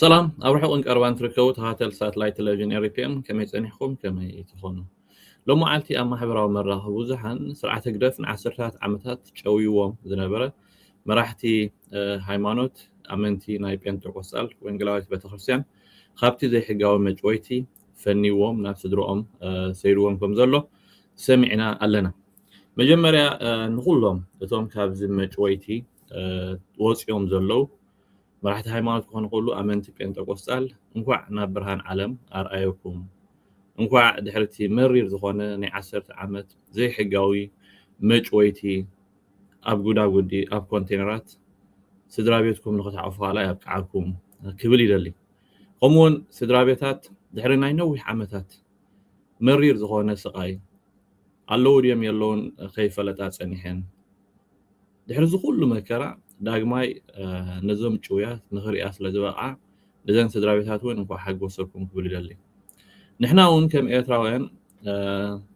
ሰላም ኣብ ርሑቅን ቀረባን ትርከቡ ተከታተልቲ ሳትላይት ተለቪዥን ኤሪፒኤም ከመይ ጸኒሕኩም ከመይ ትኮኑ ሎም መዓልቲ ኣብ ማሕበራዊ መራኸቢ ብዙሓን ስርዓት ህግደፍ ንዓሰርታት ዓመታት ጨውይዎም ዝነበረ መራሕቲ ሃይማኖት ኣመንቲ ናይ ጴንጠቆስጣል ወንጌላዊት ቤተክርስትያን ካብቲ ዘይሕጋዊ መጭወይቲ ፈኒዎም ናብ ስድርኦም ሰይርዎም ከም ዘሎ ሰሚዕና ኣለና። መጀመርያ ንኹሎም እቶም ካብዚ መጭወይቲ ወጽዮም ዘለዉ መራሕቲ ሃይማኖት ክኾኑ ይኽእሉ ኣመንቲ ጴንጠቆስጣል እንኳዕ ናብ ብርሃን ዓለም ኣርኣየኩም። እንኳዕ ድሕሪ እቲ መሪር ዝኾነ ናይ ዓሰርተ ዓመት ዘይሕጋዊ መጭወይቲ ኣብ ጉዳጉዲ ኣብ ኮንቴነራት ስድራቤትኩም ንኽትሓቑፉ ከኣ የብቅዓኩም ክብል ይደሊ። ከምኡ ውን ስድራቤታት ድሕሪ ናይ ነዊሕ ዓመታት መሪር ዝኾነ ስቓይ ኣለዉ ድዮም የለዉን ከይፈለጣ ጸኒሐን ድሕሪ እዚ ኩሉ መከራ ዳግማይ ነዞም ጭውያት ንኽሪኣ ስለ ዝበቕዓ ነዘን ስድራቤታት ውን እንኳዕ ሓጎሰኩም ክብል ይደሊ ንሕና ውን ከም ኤርትራውያን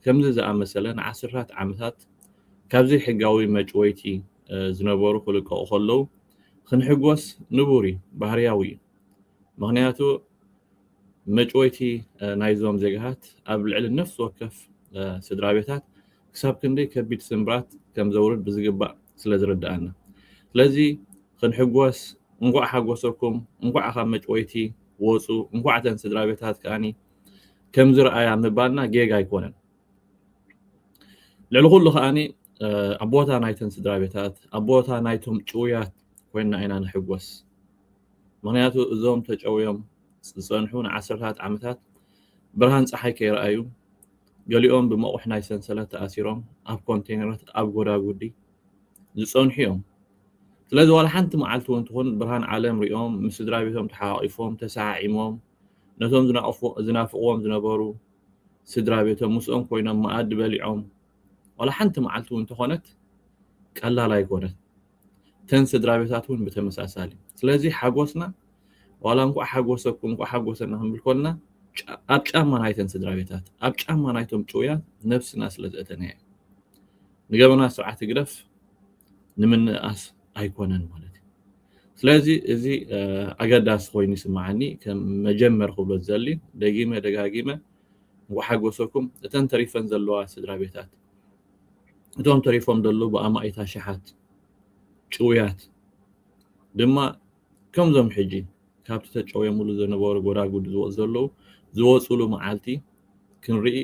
ከምዚ ዝኣመሰለ ንዓስርታት ዓመታት ካብ ዘይሕጋዊ መጭወይቲ ዝነበሩ ክልቀቑ ከለዉ ክንሕጎስ ንቡር እዩ ባህርያዊ እዩ ምኽንያቱ መጭወይቲ ናይዞም ዜጋታት ኣብ ልዕሊ ነፍሲ ወከፍ ስድራ ቤታት ክሳብ ክንደይ ከቢድ ስምብራት ከም ዘውርድ ብዝግባእ ስለ ዝርድኣና ስለዚ ክንሕጎስ እንኳዕ ሓጎሰኩም እንኳዕ ካብ መጭወይቲ ወፁ እንኳዕ እተን ስድራ ቤታት ከዓኒ ከምዚ ረኣያ ምባልና ጌጋ ኣይኮነን ልዕሊ ኩሉ ከዓኒ ኣብ ቦታ ናይተን ስድራ ቤታት ኣብ ቦታ ናይቶም ጭውያት ኮይንና ኢና ንሕጎስ ምኽንያቱ እዞም ተጨውዮም ዝጸንሑ ንዓሰርተታት ዓመታት ብርሃን ጸሓይ ከይረኣዩ፣ ገሊኦም ብመቑሕ ናይ ሰንሰለት ተኣሲሮም ኣብ ኮንተይነራት ኣብ ጎዳጉዲ ዝጸንሑ'ዮም። ስለዚ ዋላ ሓንቲ መዓልቲ'ውን ትኹን ብርሃን ዓለም ርእዮም ምስ ስድራቤቶም ተሓቛቒፎም ተሰዓዒሞም ነቶም ዝናፍቕዎም ዝነበሩ ስድራቤቶም ምስኦም ኮይኖም መኣዲ በሊዖም ዋላ ሓንቲ መዓልቲ'ውን እንተኾነት ቀላል ኣይኮነትን። እተን ስድራቤታት እውን ብተመሳሳሊ ስለዚ ሓጎስና ዋላ እንኳዕ ሓጎሰኩም እንኳዕ ሓጎሰና ክንብል ኮልና ኣብ ጫማ ናይተን ስድራቤታት ኣብ ጫማ ናይቶም ጭውያት ነብስና ስለ ዘእተናዮ እዩ ንገበና ስርዓት ህግደፍ ንምንእኣስ ኣይኮነን ማለት እዩ ስለዚ እዚ ኣገዳሲ ኮይኑ ይስምዓኒ ከም መጀመር ክብሎ ዝዘሊ ደጊመ ደጋጊመ እንኳ ሓጎሰኩም እተን ተሪፈን ዘለዋ ስድራ ቤታት እቶም ተሪፎም ዘለዉ ብኣማኢት ኣሽሓት ጭውያት ድማ ከምዞም ሕጂ ካብቲ ተጨውየምሉ ዝነበሩ ጎዳጉዲ ዝወጹ ዘለዉ ዝወጹሉ መዓልቲ ክንርኢ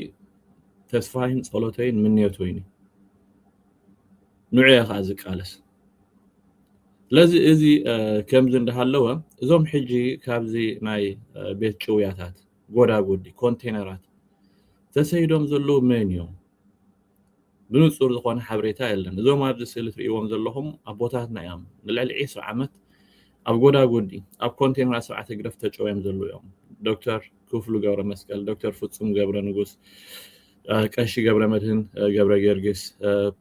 ተስፋይን ጸሎተይን ምንዮተይን እዩ። ንዑ እየ ከዓ ዝቃለስ። ስለዚ እዚ ከምዚ እንዳሃለወ እዞም ሕጂ ካብዚ ናይ ቤት ጭውያታት ጎዳጉዲ ኮንቴነራት ተሰይዶም ዘለዉ መን እዮም? ብንጹር ዝኾነ ሓበሬታ የለን። እዞም ኣብዚ ስእሊ ትርእይዎም ዘለኹም ኣቦታትና እዮም። ንልዕሊ ዒስራ ዓመት ኣብ ጎዳጉዲ ኣብ ኮንቴነራት ስርዓት ህግደፍ ተጨውዮም ዘለዉ እዮም። ዶክተር ክፍሉ ገብረመስቀል፣ ዶክተር ፍጹም ገብረንጉስ፣ ቀሺ ገብረመድህን ገብረጊዮርጊስ፣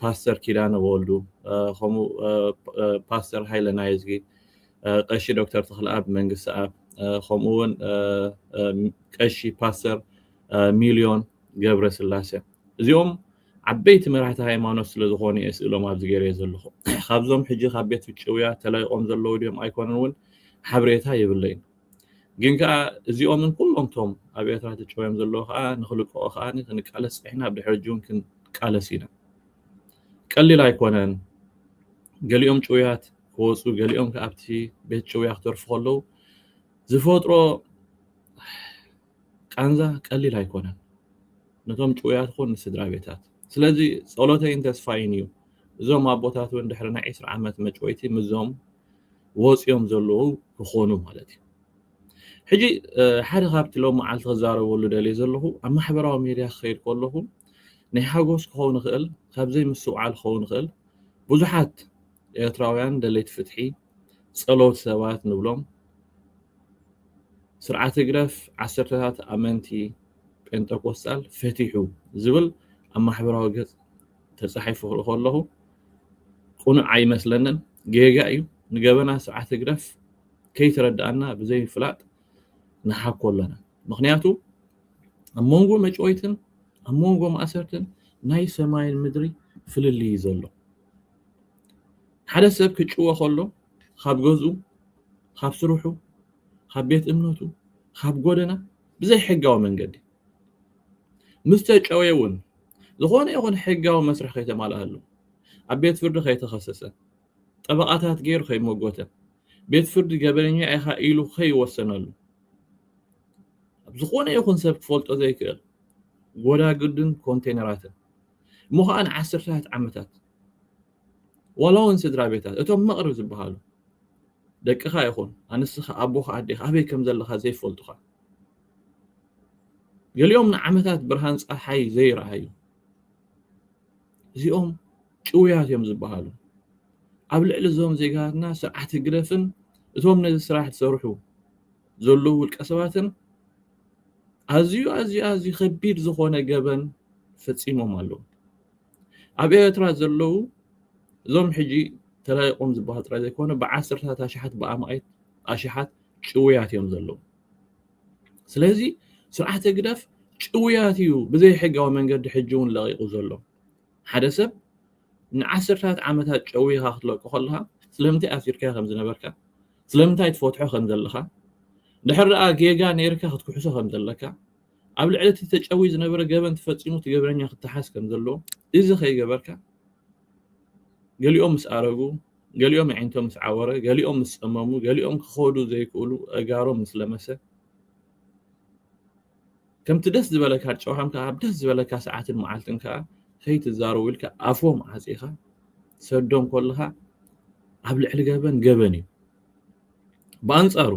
ፓስተር ኪዳነ ወልዱ፣ ከምኡ ፓስተር ሃይለ ናይዝጊ፣ ቀሺ ዶክተር ተኽለኣብ መንግስትኣብ፣ ከምኡ'ውን ቀሺ ፓስተር ሚልዮን ገብረስላሰ እዚኦም ዓበይቲ መራሕቲ ሃይማኖት ስለ ዝኾኑ እየ ስእሎም ኣብዚ ገይረዮ ዘለኹ ካብዞም ሕጂ ካብ ቤት ፍጭውያ ተላይቆም ዘለዉ ድዮም ኣይኮነን እውን ሓብሬታ የብለይን ግን ከዓ እዚኦምን ኩሎም ቶም ኣብ ኤርትራ ተጨውዮም ዘለዉ ከዓ ንክልቀቑ ከዓ ክንቃለስ ፀኒሕና ኣብ ድሕሪ ሕጂ እውን ክንቃለስ ኢና ቀሊል ኣይኮነን ገሊኦም ጭውያት ክወፁ ገሊኦም ከዓ ኣብቲ ቤት ጭውያ ክተርፉ ከለዉ ዝፈጥሮ ቃንዛ ቀሊል ኣይኮነን ነቶም ጭውያት ኹን ንስድራቤታት ስለዚ ጸሎተይን ተስፋይን እዩ እዞም ኣቦታት ውን ድሕሪ ናይ ዕስራ ዓመት መጭወይቲ ምዞም ወጽዮም ዘለዉ ክኾኑ ማለት እዩ ሕጂ ሓደ ካብቲ ሎም መዓልቲ ክዛረበሉ ደልየ ዘለኹ ኣብ ማሕበራዊ ሜድያ ክኸይድ ከለኹ ናይ ሓጎስ ክኸውን ይኽእል ካብ ዘይምስትውዓል ክኸውን ይኽእል ብዙሓት ኤርትራውያን ደለይቲ ፍትሒ ጸሎት ሰባት ንብሎም ስርዓት ህግደፍ ዓሰርተታት ኣመንቲ ጴንጠቆስጣል ፈቲሑ ዝብል ኣብ ማሕበራዊ ገጽ ተጻሒፉ ክርኢ ከለኹ ቅኑዕ ኣይመስለንን፣ ጌጋ እዩ። ንገበናት ስርዓት ህግደፍ ከይተረድኣና ብዘይምፍላጥ ንሓኮ ኣለና። ምኽንያቱ ኣብ መንጎ መጭወይትን ኣብ መንጎ ማእሰርትን ናይ ሰማይን ምድሪ ፍልልይ እዩ ዘሎ። ሓደ ሰብ ክጭወ ከሎ ካብ ገዝኡ ካብ ስርሑ ካብ ቤት እምነቱ ካብ ጎደና ብዘይ ሕጋዊ መንገዲ ምስ ተጨወየ እውን ዝኾነ ይኹን ሕጋዊ መስርሕ ከይተማልኣሉ ኣብ ቤት ፍርዲ ከይተኸሰሰ ጠበቓታት ገይሩ ከይመጎተ ቤት ፍርዲ ገበነኛ ኢኻ ኢሉ ከይወሰነሉ ዝኾነ ይኹን ሰብ ክፈልጦ ዘይክእል ጎዳግድን ኮንቴነራትን እሞ ኸኣ ንዓሰርተታት ዓመታት ዋላውን ስድራቤታት እቶም መቕርብ ዝበሃሉ ደቅኻ ይኹን ኣንስኻ ኣቦኻ ኣዴኻ ኣበይ ከም ዘለኻ ዘይፈልጡኻ ገሊኦም ንዓመታት ብርሃን ፀሓይ ዘይረኣዩ እዚኦም ጭውያት እዮም ዝበሃሉ ኣብ ልዕሊ እዞም ዜጋትና ስርዓት ህግደፍን እቶም ነዚ ስራሕ ዝሰርሑ ዘለዉ ውልቀ ሰባትን ኣዝዩ ኣዝዩ ኣዝዩ ከቢድ ዝኾነ ገበን ፈጺሞም ኣለዉ። ኣብ ኤርትራ ዘለዉ እዞም ሕጂ ተላኢቖም ዝበሃሉ ጥራይ ዘይኮነ ብዓሰርታት ኣሽሓት ብኣማኢት ኣሽሓት ጭውያት እዮም ዘለዉ። ስለዚ ስርዓት ህግደፍ ጭውያት እዩ ብዘይሕጋዊ መንገዲ ሕጂ እውን ለቒቑ ዘሎ። ሓደ ሰብ ንዓሰርተታት ዓመታት ጨውይኻ ክትለቆ ከለኻ ስለምንታይ ኣሲርካዮ ከም ዝነበርካ ስለምንታይ ትፈትሖ ከም ዘለኻ ድሕር ደኣ ጌጋ ነይርካ ክትክሕሶ ከም ዘለካ ኣብ ልዕሊ እቲ ተጨውይ ዝነበረ ገበን ትፈጺሙ እቲ ገበነኛ ክተሓዝ ከም ዘለዎ እዚ ከይገበርካ ገሊኦም ምስ ኣረጉ ገሊኦም ኣዒንቶም ምስ ዓወረ ገሊኦም ምስ ጸመሙ ገሊኦም ክኸዱ ዘይክእሉ ኣእጋሮም ምስ ለመሰ ከምቲ ደስ ዝበለካ ጨዋም ከኣ ኣብ ደስ ዝበለካ ሰዓትን መዓልትን ከኣ ከይትዛረቡ ኢልካ ኣፎም ዓጺኻ ትሰዶም ከለኻ ኣብ ልዕሊ ገበን ገበን እዩ ብኣንጻሩ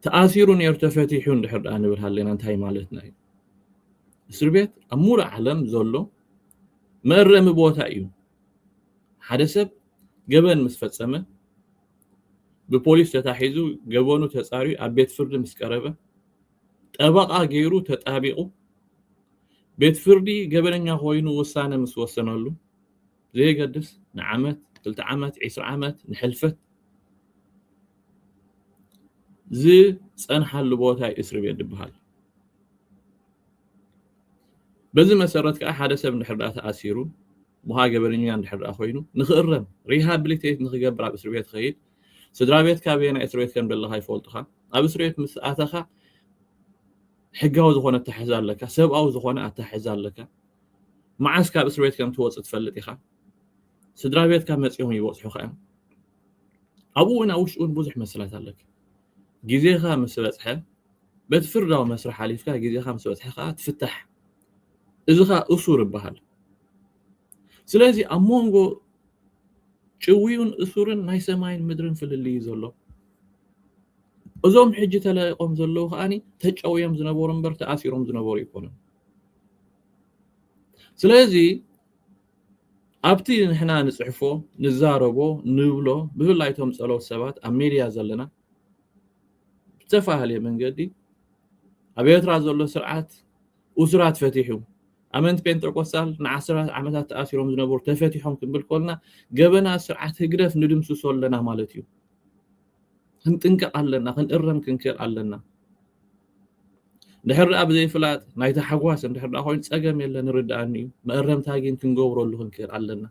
ተኣሲሩ ነይሩ ተፈቲሑ እንድሕር ደኣ ንብል ሃለና እንታይ ማለትና እዩ እስር ቤት ኣብ ሙሉእ ዓለም ዘሎ መእረሚ ቦታ እዩ ሓደ ሰብ ገበን ምስ ፈጸመ ብፖሊስ ተታሒዙ ገበኑ ተፃርዩ ኣብ ቤት ፍርዲ ምስ ቀረበ ጠበቓ ገይሩ ተጣቢቑ ቤት ፍርዲ ገበነኛ ኮይኑ ውሳነ ምስ ወሰነሉ ዘየገድስ ንዓመት ክልተ ዓመት ዒስራ ዓመት ንሕልፈት ዝፀንሓሉ ቦታ እዩ እስርቤት ዝበሃል። በዚ መሰረት ከኣ ሓደ ሰብ እንድሕር ደኣ ተኣሲሩ ሞሃ ገበነኛ እንድሕር ደኣ ኮይኑ ንኽእረም ሪሃብሊቴት ንኽገብር ኣብ እስሪ ቤት ኸይድ ስድራ ቤትካ ኣበየናይ እስሪ ቤት ከም ዘለኻ ይፈልጡኻ ኣብ እስሪ ቤት ምስ ኣተኻ ሕጋዊ ዝኾነ ኣታሕዛ ኣለካ ሰብኣዊ ዝኾነ ኣታሕዛ ኣለካ መዓስ ካብ እስሪ ቤት ከም ትወፅእ ትፈልጥ ኢኻ ስድራ ቤትካ መፂኦም ይበፅሑኻ እዮም ኣብኡ እውን ኣብ ውሽጢ እውን ብዙሕ መሰላት ኣለካ ግዜኻ ምስ በጽሐ በቲ ፍርዳዊ መስርሕ ኣሊፍካ ግዜኻ ምስ በጽሐ ከኣ ትፍታሕ እዚ ከኣ እሱር ይበሃል ስለዚ ኣብ መንጎ ጭውዩን እሱርን ናይ ሰማይን ምድርን ፍልልይ እዩ ዘሎ እዞም ሕጂ ተለቂቆም ዘለዉ ከዓኒ ተጨውዮም ዝነበሩ እምበር ተኣሲሮም ዝነበሩ ኣይኮኑን ስለዚ ኣብቲ ንሕና ንጽሕፎ ንዛረቦ ንብሎ ብፍላይ እቶም ጸለውቲ ሰባት ኣብ ሜድያ ዘለና ብዝተፋሃለየ መንገዲ ኣብ ኤርትራ ዘሎ ስርዓት ኡሱራት ፈቲሑ ኣመንቲ ጴንጠቆስታል ንዓስራት ዓመታት ተኣሲሮም ዝነበሩ ተፈቲሖም ክንብል ኮልና ገበና ስርዓት ህግደፍ ንድምስሶ ኣለና ማለት እዩ። ክንጥንቀቕ ኣለና፣ ክንእረም ክንክእል ኣለና። ድሕር ደኣ ብዘይፍላጥ ናይ ታሕጓስ እንድሕር ደኣ ኮይኑ ጸገም የለን ንርድኣኒ እዩ መእረምታ ግን ክንገብረሉ ክንክእል ኣለና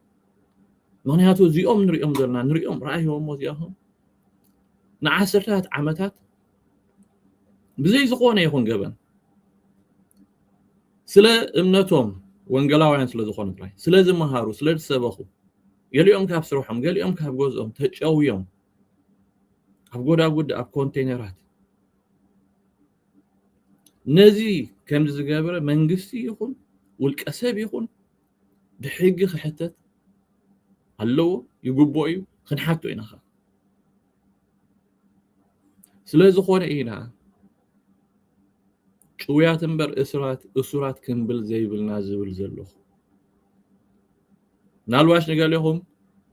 ምክንያቱ እዚኦም ንሪኦም ዘለና ንሪኦም ረኣይዎሞ እዚኣኹም ንዓሰርታት ዓመታት ብዘይ ዝኾነ ይኹን ገበን ስለ እምነቶም ወንጌላውያን ስለ ዝኾኑ ጥራይ ስለ ዝመሃሩ ስለ ዝሰበኹ ገሊኦም ካብ ስርሖም ገሊኦም ካብ ገዝኦም ተጨውዮም ኣብ ጎዳጉዲ ኣብ ኮንቴነራት ነዚ ከም ዝገብረ መንግስቲ ይኹን ውልቀ ሰብ ይኹን ብሕጊ ክሕተት ኣለዎ ይግብኦ እዩ ክንሓቶ ኢና ኸ ስለ ዝኾነ ኢና ጭውያት እምበር እሱራት እሱራት ክንብል ዘይብልና ዝብል ዘለኹ ምናልባሽ ንገሌኹም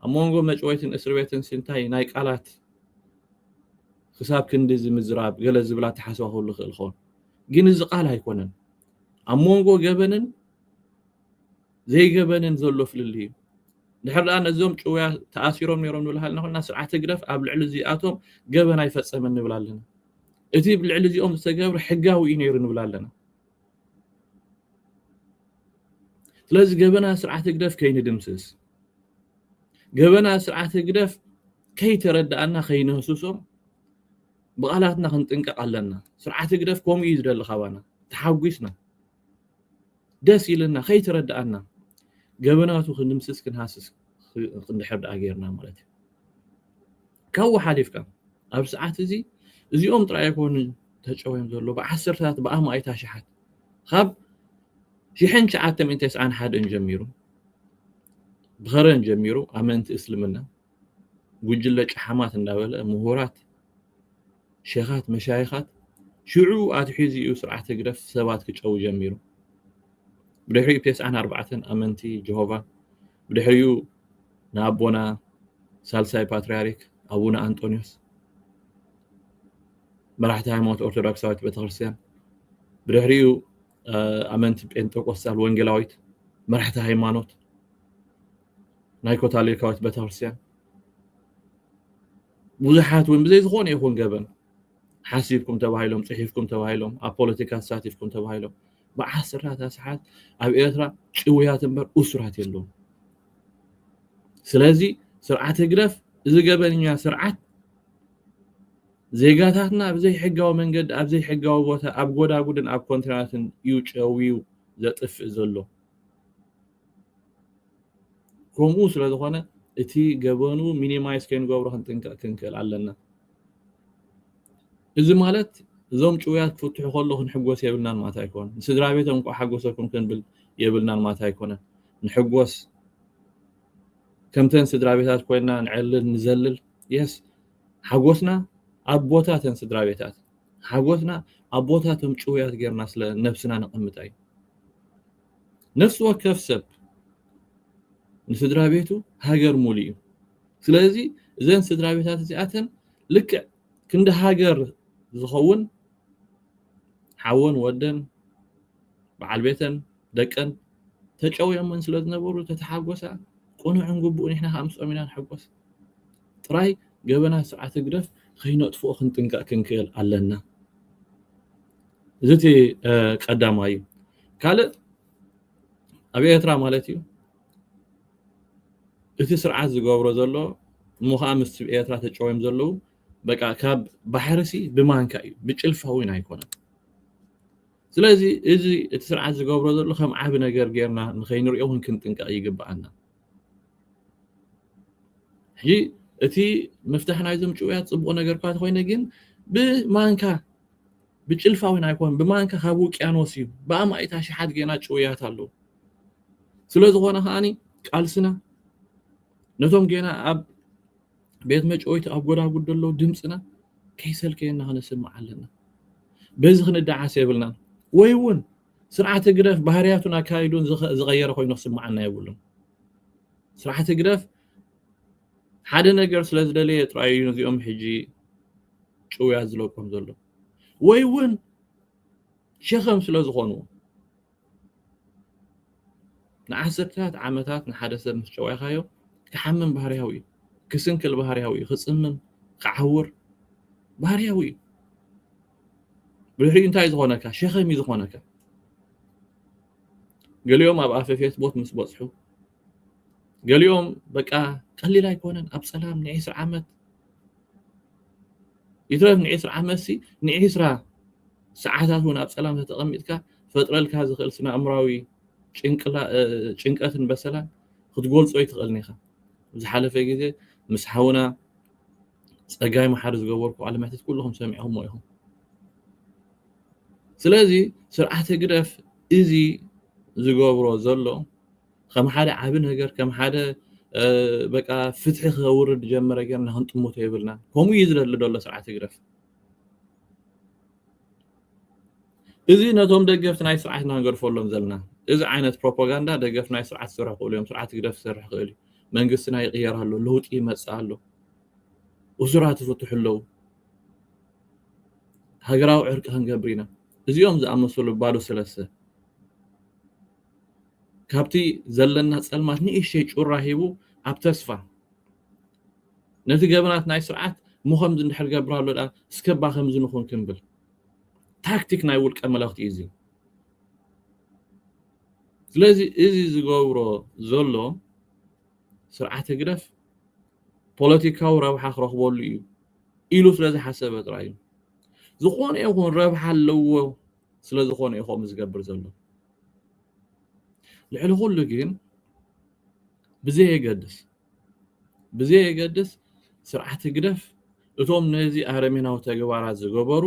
ኣብ መንጎ መጭወይትን እስር ቤትን ስንታይ ናይ ቃላት ክሳብ ክንድዚ ምዝራብ ገለ ዝብል ኣተሓሳስባ ክህሉ ይኽእል ይኸውን። ግን እዚ ቃል ኣይኮነን ኣብ መንጎ ገበንን ዘይገበንን ዘሎ ፍልልይ እዩ። ድሕር ደኣ ነዞም ጭውያ ተኣሲሮም ነይሮም ንብል ሃለና ኮይና ስርዓት ህግደፍ ኣብ ልዕሊ እዚኣቶም ገበን ኣይፈጸመን ንብል ኣለና። እቲ ልዕሊ እዚኦም ዝተገብረ ሕጋዊ እዩ ነይሩ ንብል ኣለና። ስለዚ ገበና ስርዓት ህግደፍ ከይንድምስስ ገበና ስርዓት ህግደፍ ከይተረድኣና ከይንህስሶ ብቓላትና ክንጥንቀቕ ኣለና ስርዓት ህግደፍ ከምኡ እዩ ዝደሊ ካባና ተሓጒስና ደስ ኢልና ከይተረድኣና ገበናቱ ክንድምስስ ክንሃስስ ክንድሕር ደኣ ጌርና ማለት እዩ ካብኡ ሓሊፍካ ኣብዚ ሰዓት እዚ እዚኦም ጥራይ ኣይኮኑን ተጨውዮም ዘለዉ ብዓሰርተታት ብኣማኢት ኣሽሓት ካብ ሽሕን ትሽዓተ ሚእቲ ተስዓን ሓደን ጀሚሩ ብኸረን ጀሚሩ ኣመንቲ እስልምና ጉጅለ ጨሓማት እንዳበለ ምሁራት ሸኻት መሻይኻት ሽዑ ኣትሒዙ እዩ ስርዓት ህግደፍ ሰባት ክጨው ጀሚሩ ብድሕሪኡ ቴስዓን ኣርባዕተን ኣመንቲ ጀሆቫ ብድሕሪኡ ንኣቦና ሳልሳይ ፓትርያርክ ኣቡነ ኣንጦንዮስ መራሕቲ ሃይማኖት ኦርቶዶክሳዊት ቤተክርስትያን ብድሕሪኡ ኣመንቲ ጴንጠቆስታል ወንጌላዊት መራሕቲ ሃይማኖት ናይ ኮታሊካዊት ቤተክርስትያን ብዙሓት እውን ብዘይ ዝኾነ ይኹን ገበን ሓሲብኩም ተባሂሎም ጽሒፍኩም ተባሂሎም ኣብ ፖለቲካ ተሳቲፍኩም ተባሂሎም ብዓሰርታት ኣስሓት ኣብ ኤርትራ ጭውያት እምበር እሱራት የለዎም ስለዚ ስርዓት ህግደፍ እዚ ገበንኛ ስርዓት ዜጋታትና ብዘይ ሕጋዊ መንገዲ ኣብ ዘይሕጋዊ ቦታ ኣብ ጎዳጉድን ኣብ ኮንትራትን እዩ ጨውዩ ዘጥፍእ ዘሎ ከምኡ ስለ ዝኾነ እቲ ገበኑ ሚኒማይዝ ከይንገብሮ ክንጥንቀቕ ክንክእል ኣለና። እዚ ማለት እዞም ጭውያት ክፍትሑ ከሎ ክንሕጎስ የብልናን ማለት ኣይኮነን። ንስድራ ቤቶም እንቋዕ ሓጎሰኩም ክንብል የብልናን ማለት ኣይኮነን። ንሕጎስ ከምተን ስድራ ቤታት ኮይና ንዕልል ንዘልል የስ ሓጎስና ኣብ ቦታ ተን ስድራ ቤታት ሓጎስና ኣብ ቦታ እቶም ጭውያት ጌርና ስለ ነብስና ነቐምጣ እዩ። ነፍሲ ወከፍ ሰብ ንስድራቤቱ ሃገር ሙሉ እዩ ስለዚ እዘን ስድራቤታት እዚኣተን ልክዕ ክንዲ ሃገር ዝኸውን ሓወን ወደን በዓል ቤተን ደቀን ተጨውዮመን ስለ ዝነበሩ ተተሓጎሳ ቅኑዕን ግቡእን ንሕና ከዓ ምስኦም ኢና ንሕጎስ ጥራይ ገበናት ስርዓት ህግደፍ ከይነጥፍኦ ክንጥንቀቕ ክንክእል ኣለና እዚ እቲ ቀዳማይ እዩ ካልእ ኣብ ኤርትራ ማለት እዩ እቲ ስርዓት ዝገብሮ ዘሎ እሞ ከዓ ምስ ኤርትራ ተጨውዮም ዘለዉ በቃ ካብ ባሕሪ ሲ ብማንካ እዩ ብጭልፋ እውን ኣይኮነን ስለዚ እዚ እቲ ስርዓት ዝገብሮ ዘሎ ከም ዓብ ነገር ጌርና ንኸይንሪኦ እውን ክንጥንቀቕ ይግብኣና ሕጂ እቲ ምፍታሕ ናይዞም ጭውያት ፅቡቕ ነገር እኳ ተኮይነ ግን ብማንካ ብጭልፋ ውን ኣይኮነን ብማንካ ካብ ውቅያኖስ እዩ ብኣማኢት ኣሽሓት ጌና ጭውያት ኣለዉ ስለዝኾነ ከዓኒ ቃልስና ነቶም ጌና ኣብ ቤት መጨወይቲ ኣብ ጎዳጉድ ዘለዉ ድምፅና ከይሰልከየና ክነስምዕ ኣለና በዚ ክንደዓስ የብልናን ወይ እውን ስርዓት ህግደፍ ባህርያቱን ኣካይዱን ዝቐየረ ኮይኑ ክስምዓና የብሉን ስርዓት ህግደፍ ሓደ ነገር ስለ ዝደለየ ጥራይ እዩ ነዚኦም ሕጂ ጭውያት ዝለቆም ዘሎ ወይ እውን ሸኸም ስለ ዝኾንዎ ንዓሰርተታት ዓመታት ንሓደ ሰብ ምስ ጨዋይካዮ ክሓምም ባህርያዊ እዩ ክስንክል ባህርያዊ እዩ ክፅምም ክዓውር ባህርያዊ እዩ ብድሕሪኡ እንታይ ዝኾነካ ሸኸም እዩ ዝኾነካ ገሊኦም ኣብ ኣፈ ፌስቦት ምስ በፅሑ ገሊኦም በቃ ቀሊል ኣይኮነን ኣብ ሰላም ንዒስራ ዓመት ይትረፍ ንዒስራ ዓመት ሲ ንዒስራ ሰዓታት እውን ኣብ ሰላም ተተቐሚጥካ ፈጥረልካ ዝኽእል ስነ ኣእምራዊ ጭንቀትን በሰላን ክትገልጾ ኣይትኽእልን ኢኻ ዝሓለፈ ግዜ ምስ ሓውና ጸጋይ መሓሪ ዝገበርኩ ቃለ መሕትት ኩልኹም ሰሚዕኹሞ ኢኹም ስለዚ ስርዓተ ግደፍ እዚ ዝገብሮ ዘሎ ከም ሓደ ዓቢ ነገር ከም ሓደ በቃ ፍትሒ ከውርድ ጀመረ ጌርና ክንጥምቶ የብልናን ከምኡ እዩ ዝደሊ ዘሎ ስርዓት ህግደፍ እዚ ነቶም ደገፍቲ ናይ ስርዓት ኢና ንገርፈሎም ዘለና እዚ ዓይነት ፕሮፓጋንዳ ደገፍ ናይ ስርዓት ዝሰርሑ ክእሉ እዮም ስርዓት ህግደፍ ዝሰርሕ ክእል እዩ መንግስትና ይቕየር ኣሎ ለውጢ ይመፅእ ኣሎ እሱራት ይፍትሑ ኣለዉ ሃገራዊ ዕርቂ ክንገብር ኢና እዚኦም ዝኣመሰሉ ባዶ ሰለስተ ካብቲ ዘለና ጸልማት ንእሽተይ ጩራ ሂቡ ኣብ ተስፋ ነቲ ገበናት ናይ ስርዓት እሞ ከምዚ እንድሕር ገብራሎ ድኣ እስከባ ከምዚ ንኹን ክንብል ታክቲክ ናይ ውልቀ መለኽቲ እዩ እዚ ስለዚ እዚ ዝገብሮ ዘሎ ስርዓት ህግደፍ ፖለቲካዊ ረብሓ ክረኽበሉ እዩ ኢሉ ስለ ዝሓሰበ ጥራይ እዩ ዝኾነ ይኹን ረብሓ ኣለዎ ስለ ዝኾነ እዩ ከምኡ ዝገብር ዘሎ። ልዕሊ ኩሉ ግን ብዘየገድስ ብዘየገድስ ስርዓት ህግደፍ እቶም ነዚ ኣረሜናዊ ተግባራት ዝገበሩ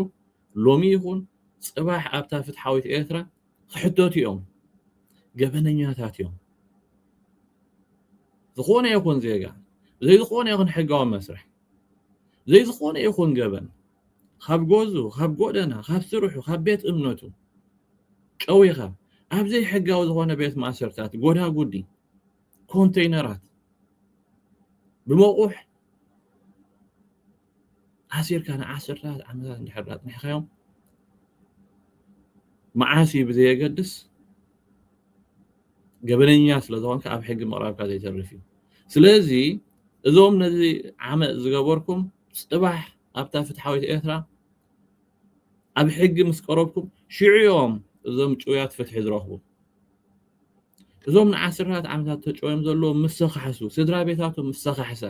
ሎሚ ይኹን ጽባሕ ኣብታ ፍትሓዊት ኤርትራ ክሕተቱ እዮም። ገበነኛታት እዮም። ዝኾነ ይኹን ዜጋ ብዘይ ዝኾነ ይኹን ሕጋዊ መስርሕ ብዘይ ዝኾነ ይኹን ገበን ኻብ ጎዙ፣ ኻብ ጎደና፣ ኻብ ስርሑ፣ ኻብ ቤት እምነቱ ጨዊኻ ኣብ ዘይሕጋዊ ዝኾነ ቤት ማእሰርታት፣ ጎዳጉዲ፣ ኮንተይነራት ብመቑሕ ኣሲርካ ንዓሰርተታት ዓመታት እንድሕር ዳኣ ኣጽኒሕካዮም መዓስ እዩ ብዘየገድስ ገበነኛ ስለ ዝኾንካ ኣብ ሕጊ ምቕራብካ ዘይተርፍ እዩ ስለዚ እዞም ነዚ ዓመፅ ዝገበርኩም ፅባሕ ኣብታ ፍትሓዊት ኤርትራ ኣብ ሕጊ ምስ ቀረብኩም ሽዑ እዮም እዞም ጭውያት ፍትሒ ዝረኽቡ። እዞም ንዓሰርታት ዓመታት ተጨውዮም ዘለዉ ምስ ተኻሕሱ፣ ስድራ ቤታቶም ምስ ተኻሕሳ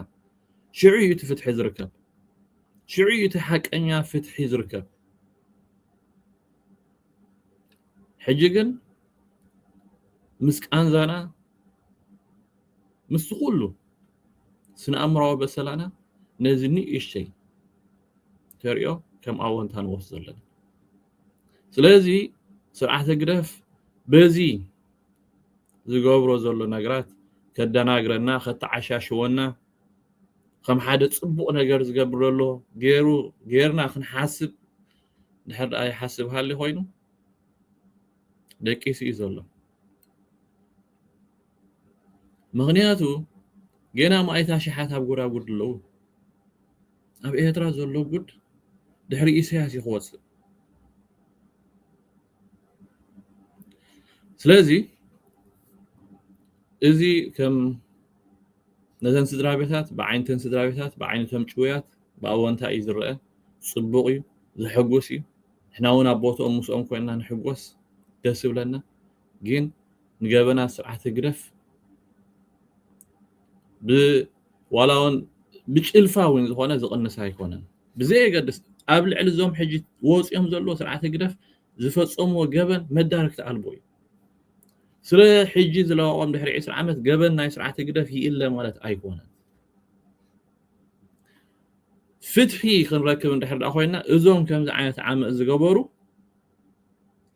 ሽዑ እዩ እቲ ፍትሒ ዝርከብ። ሽዑ እዩ እቲ ሓቀኛ ፍትሒ ዝርከብ። ሕጂ ግን ምስ ቃንዛና ምስዚ ኩሉ ስነኣእምራዊ በሰላና ነዚ ንእሽተይ ተርእዮ ከም ኣወንታ ንወስዶ ኣለና። ስለዚ ስርዓት ህግደፍ በዚ ዝገብሮ ዘሎ ነግራት ከደናግረና ከተዓሻሽወና ከም ሓደ ጽቡቕ ነገር ዝገብር ዘሎ ገይሩ ገይርና ክንሓስብ ድሕር ደኣ ይሓስብ ሃሊ ኮይኑ ደቂሱ እዩ ዘሎ። ምኽንያቱ ጌና ማኣይት ኣሽሓት ኣብ ጎዳጉድ ኣለዉ። ኣብ ኤርትራ ዘሎ ጉድ ድሕሪ ኢሰያስ እዩ ክወጽእ። ስለዚ እዚ ከም ነዘን ስድራቤታት ብዓይንተን ስድራቤታት ብዓይነቶም ጭውያት ብኣወንታ እዩ ዝረኣ ጽቡቕ እዩ ዘሐጉስ እዩ ንሕና እውን ኣብ ቦትኦም ምስኦም ኮይንና ንሕጎስ ደስ ይብለና። ግን ንገበናት ስርዓት ህግደፍ ዋላ ውን ብጭልፋ ውን ዝኾነ ዝቕንስ ኣይኮነን። ብዘየገድስ ኣብ ልዕሊ እዞም ሕጂ ወጽዮም ዘለዎ ስርዓት ህግደፍ ዝፈጸምዎ ገበን መዳርግቲ ኣልቦ እዩ። ስለ ሕጂ ዝለዋወም ድሕሪ ዕስራ ዓመት ገበን ናይ ስርዓት ህግደፍ ይእለ ማለት ኣይኮነን። ፍትሒ ክንረክብ እንድሕር ኮይና እዞም ከምዚ ዓይነት ዓመፅ ዝገበሩ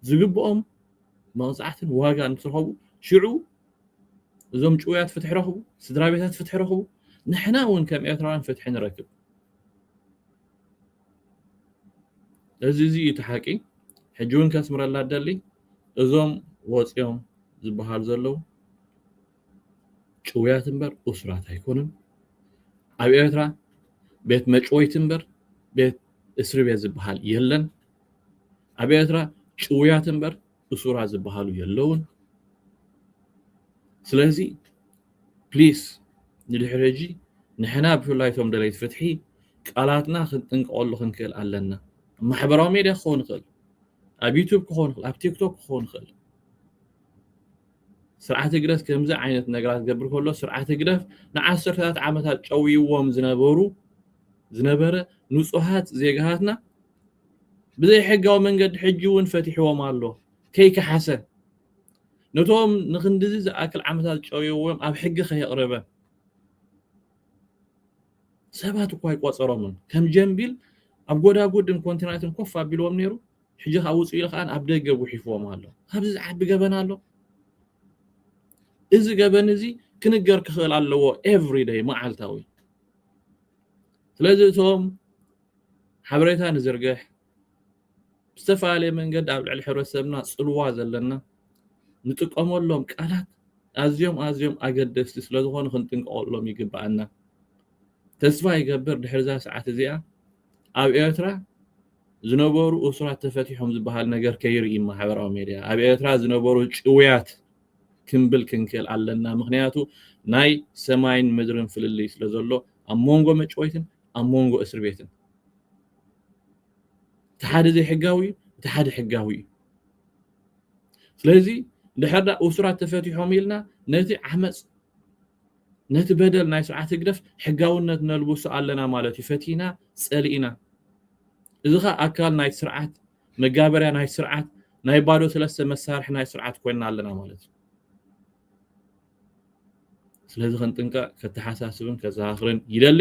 ዝግብኦም መቕጻዕትን ዋጋን ምስ ረኸቡ ሽዑ እዞም ጭውያት ፍትሒ ረኽቡ፣ ስድራ ቤታት ፍትሒ ረኽቡ፣ ንሕና እውን ከም ኤርትራውያን ፍትሒ ንረክብ። እዚ እዚ እዩ እቲ ሓቂ። ሕጂ እውን ከስምረላ እደሊ እዞም ወጺኦም ዝበሃሉ ዘለዉ ጭውያት እምበር እሱራት ኣይኮኑን። ኣብ ኤርትራ ቤት መጭወይቲ እምበር ቤት እስሪ ቤት ዝበሃል የለን። ኣብ ኤርትራ ጭውያት እምበር እሱራት ዝበሃሉ የለውን ስለዚ ፕሊስ ንድሕሪ ሕጂ ንሕና ብፍላይ እቶም ደለይቲ ፍትሒ ቃላትና ክንጥንቀቐሉ ክንክእል ኣለና ማሕበራዊ ሜድያ ክኸውን ይኽእል ኣብ ዩቱብ ክኸውን ይኽእል ኣብ ቲክቶክ ክኸውን ይኽእል ስርዓት ህግደፍ ከምዚ ዓይነት ነገራት ዝገብር ከሎ ስርዓት ህግደፍ ንዓሰርተታት ዓመታት ጨውይዎም ዝነበሩ ዝነበረ ንጹሃት ዜጋታትና ብዘይ ሕጋዊ መንገዲ ሕጂ እውን ፈቲሕዎም ኣሎ ከይከሓሰ ነቶም ንክንድዚ ዝኣክል ዓመታት ጨውዮዎም ኣብ ሕጊ ከየቕረበ ሰባት እኳ ኣይቆጸሮምን ከም ጀምቢል ኣብ ጎዳጉድን ኮንቲናትን ኮፍ ኣቢልዎም ነይሩ ሕጂ ከዓ ውፅኡ ኢሉ ከዓ ኣብ ደገ ጉሒፍዎም ኣሎ ኣብዚ ዝዓቢ ገበን ኣሎ እዚ ገበን እዚ ክንገር ክኽእል ኣለዎ ኤቭሪ ደይ መዓልታዊ ስለዚ እቶም ሓበሬታ ንዝርግሕ፣ ብዝተፈላለየ መንገዲ ኣብ ልዕሊ ሕብረተሰብና ጽልዋ ዘለና ንጥቀመሎም ቃላት ኣዝዮም ኣዝዮም ኣገደስቲ ስለ ዝኾኑ ክንጥንቀቐሎም ይግበኣና። ተስፋ ይገብር ድሕሪዛ ሰዓት እዚኣ ኣብ ኤርትራ ዝነበሩ እሱራት ተፈቲሖም ዝበሃል ነገር ከይርኢ ማሕበራዊ ሜድያ ኣብ ኤርትራ ዝነበሩ ጭውያት ክንብል ክንክእል ኣለና ምክንያቱ ናይ ሰማይን ምድርን ፍልልይ ስለ ዘሎ ኣብ መንጎ መጭወይትን ኣብ ሞንጎ እስርቤትን እቲ ሓደ ዘይሕጋዊ እዩ እቲ ሓደ ሕጋዊ እዩ ስለዚ ድሕር ዳ እሱራት ተፈቲሖም ኢልና ነቲ ዓመፅ ነቲ በደል ናይ ስርዓት ህግደፍ ሕጋውነት ነልብሶ ኣለና ማለት እዩ ፈቲና ፀሊእና እዚ ኸ ኣካል ናይ ስርዓት መጋበርያ ናይ ስርዓት ናይ ባዶ ሰለስተ መሳርሒ ናይ ስርዓት ኮይና ኣለና ማለት እዩ ስለዚ ክንጥንቀቕ ከተሓሳስብን ከዘኻኽርን ይደሊ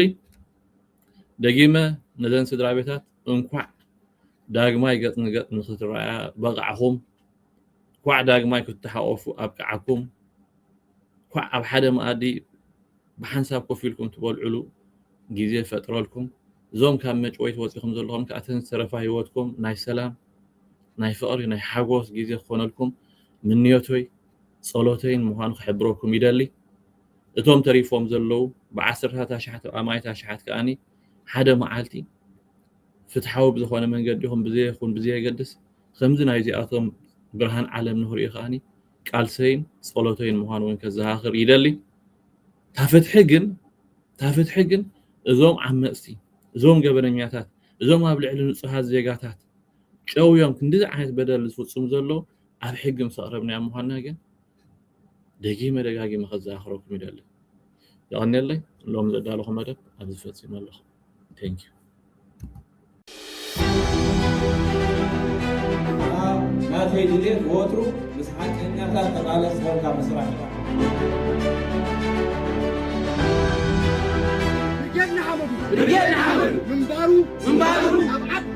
ደጊመ ነዘን ስድራ ቤታት እንኳዕ ዳግማይ ገጽ ንገጽ ንክትረኣያ በቓዕኹም እንኳዕ ዳግማይ ክትተሓቆፉ ኣብቅዓኩም እንኳዕ ኣብ ሓደ መኣዲ ብሓንሳብ ኮፍ ኢልኩም ትበልዕሉ ግዜ ፈጥረልኩም እዞም ካብ መጭወይቲ ወፂኹም ዘለኹም ከዓ እቲ ዝተረፋ ሂወትኩም ናይ ሰላም ናይ ፍቕሪ ናይ ሓጎስ ግዜ ክኾነልኩም ምንዮቶይ ጸሎተይን ምዃኑ ክሕብረኩም ይደሊ። እቶም ተሪፎም ዘለዉ ብዓሰርታት ኣሽሓት ኣማኢት ኣሽሓት ከኣ ሓደ መዓልቲ ፍትሓዊ ብዝኾነ መንገዲ ይኹን ብዘይኹን ብዘየገድስ ከምዚ ናይዚኣቶም ብርሃን ዓለም ንኽርእዩ ከኣ ቃልሰይን ጸሎተይን ምዃኑ እውን ከዘኻኽር ይደሊ። እታ ፍትሒ ግን እታ ፍትሒ ግን እዞም ዓመጽቲ እዞም ገበነኛታት እዞም ኣብ ልዕሊ ንጹሃት ዜጋታት ጨውዮም ክንድዚ ዓይነት በደል ዝፍጽሙ ዘለዉ ኣብ ሕጊ ምስ ኣቕረብናዮ ምዃንና ግን ደጊመ ደጋጊመ ከዘኻኽረኩም ይደሊ። የቐንየለይ ሎሚ ዘዳለኹ መደብ ኣብዚ ፈጺመ ኣለኹ። Thank you። ናተይ ድሌት ወትሩ ምስ ሓቀኛታት ተቓለስ ኮንካ ምስራሕ እያ። ብርጌድ ንሓመዱ ምንባሩ ኣብ ዓድ